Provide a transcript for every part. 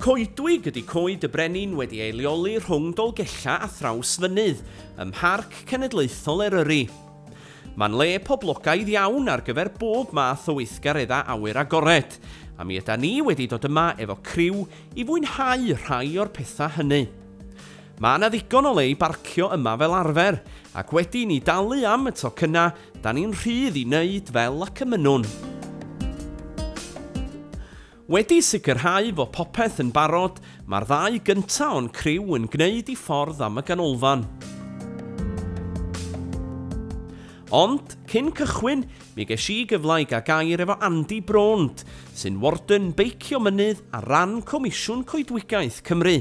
Coedwig ydy Coed y Brenin wedi ei leoli rhwng Dolgellau a Thrawsfynydd, ym Mharc Cenedlaethol Eryri. Mae'n le poblogaidd iawn ar gyfer bob math o weithgareddau awyr agored, a mi yda ni wedi dod yma efo criw i fwynhau rhai o'r pethau hynny. Mae yna ddigon o le i barcio yma fel arfer, ac wedi i ni dalu am y tocynnau, da ni'n rhydd i wneud fel y cymynnwn. Wedi sicrhau fod popeth yn barod, mae'r ddau gyntaf o'n criw yn gwneud i ffordd am y ganolfan. Ond, cyn cychwyn, mi ges i gyfle i gael gair efo Andy Braunt, sy'n Warden Beicio Mynydd ar ran Comisiwn Coedwigaeth Cymru.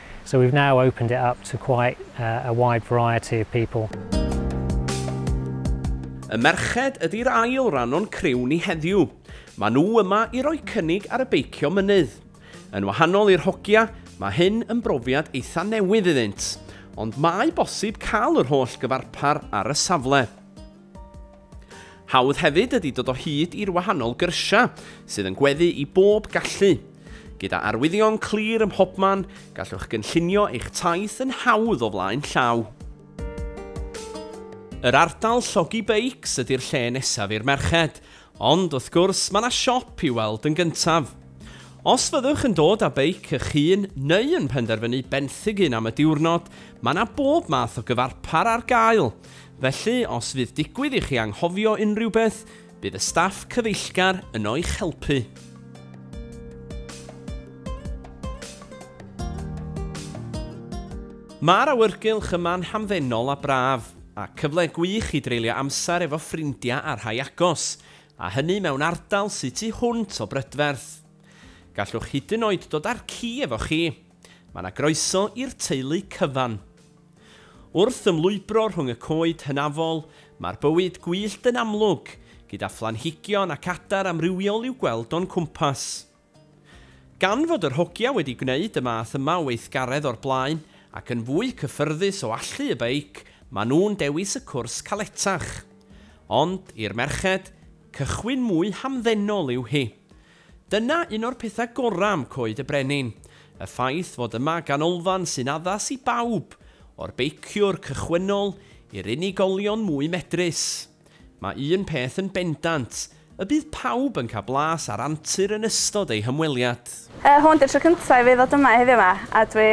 So we've now opened it up to quite a wide variety of people. Y merched ydy'r ail ran o'n criw ni heddiw. Mae nhw yma i roi cynnig ar y beicio mynydd. Yn wahanol i'r hogia, mae hyn yn brofiad eitha newydd iddynt, ond mae bosib cael yr holl gyfarpar ar y safle. Hawdd hefyd ydy dod o hyd i'r wahanol gyrsiau sydd yn gweddu i bob gallu. Gyda arwyddion clir ym mhobman, gallwch gynllunio eich taith yn hawdd o flaen llaw. Yr ardal llogi beics ydy'r lle nesaf i'r merched, ond wrth gwrs mae yna siop i'w weld yn gyntaf. Os fyddwch yn dod â beic eich hun neu yn penderfynu benthyg un am y diwrnod, mae yna bob math o gyfarpar ar gael. Felly, os fydd digwydd i chi anghofio unrhyw beth, bydd y staff cyfeillgar yno i'ch helpu. Mae'r awyrgylch yma'n hamddenol a braf, a cyfle gwych i dreulio amser efo ffrindiau a rhai agos, a hynny mewn ardal sy tu hwnt o brydferth. Gallwch hyd yn oed dod â'r ci efo chi. Mae 'na groeso i'r teulu cyfan. Wrth ymlwybro rhwng y coed hynafol, mae'r bywyd gwyllt yn amlwg, gyda phlanhigion ac adar amrywiol i'w gweld o'n cwmpas. Gan fod yr hogia wedi gwneud y math yma o weithgaredd o'r blaen, ac yn fwy cyffyrddus o allu y beic, maen nhw'n dewis y cwrs caletach. Ond, i'r merched, cychwyn mwy hamddenol yw hi. Dyna un o'r pethau gorau am Coed y Brenin, y ffaith fod yma ganolfan sy'n addas i bawb, o'r beiciwr cychwynnol i'r unigolion mwy medrus. Mae un peth yn bendant, y bydd pawb yn cael blas ar antur yn ystod eu hymweliad. Hwn 'di'r tro cyntaf i fi ddod yma heddiw 'ma a dwi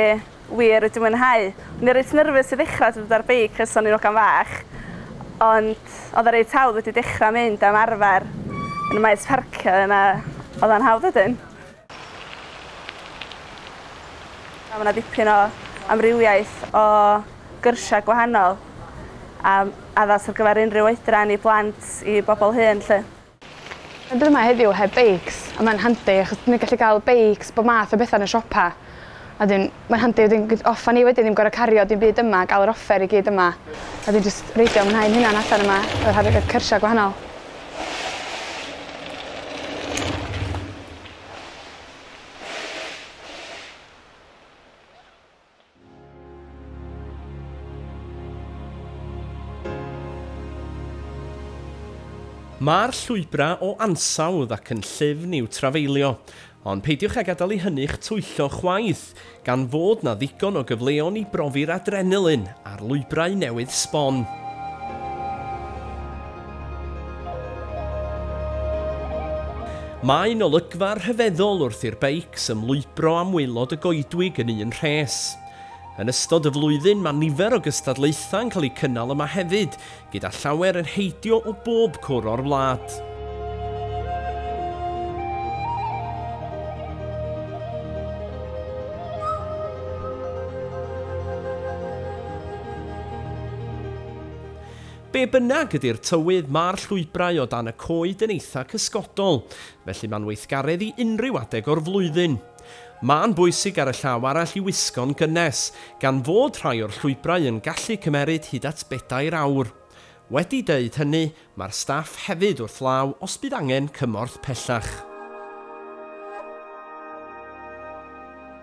Wir wedi mwynhau. O'n i reit nyrfys i ddechra dod ar beic ers o'n i'n ogan fach ond odd o reit hawdd wedi dechra mynd a ymarfer yn y maes parcio yna odd o'n hawdd wedyn. A ma' 'na dipyn o amrywiaeth o gyrsia gwahanol a addas ar gyfer unrhyw oedran i blant i bobol hŷn 'lly. Dwi ddim yma heddiw heb beics a mae'n handi achos dwi'n gallu cael beics bob math o betha yn y siopa. A wedyn mae'n handi wedyn gw- off a ni wedyn ddim gor'o' cario dim byd yma ga'l yr offer i gyd yma. A wedyn jyst reidio a mwynhau'n hunan allan yma efo rha- yy cyrsia gwahanol. Mae'r llwybrau o ansawdd ac yn llyfn i'w trafeilio, ond peidiwch â gadael i hynny'ch twyllo chwaith, gan fod 'na ddigon o gyfleon i brofi'r adrenalin ar lwybrau newydd sbon. Mae'n olygfa rhyfeddol wrth i'r beics ymlwybro am waelod y goedwig yn un rhes. Yn ystod y flwyddyn mae nifer o gystadlaethau'n cael eu cynnal yma hefyd, gyda llawer yn heidio o bob cwr o'r wlad. Be bynnag ydy'r tywydd, mae'r llwybrau o dan y coed yn eitha cysgodol, felly mae'n weithgaredd i unrhyw adeg o'r flwyddyn. Mae'n bwysig ar y llaw arall i wisgo'n gynnes, gan fod rhai o'r llwybrau yn gallu cymeryd hyd at bedair awr. Wedi deud hynny, mae'r staff hefyd wrth law os bydd angen cymorth pellach.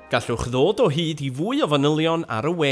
Gallwch ddod o hyd i fwy o fanylion ar y we,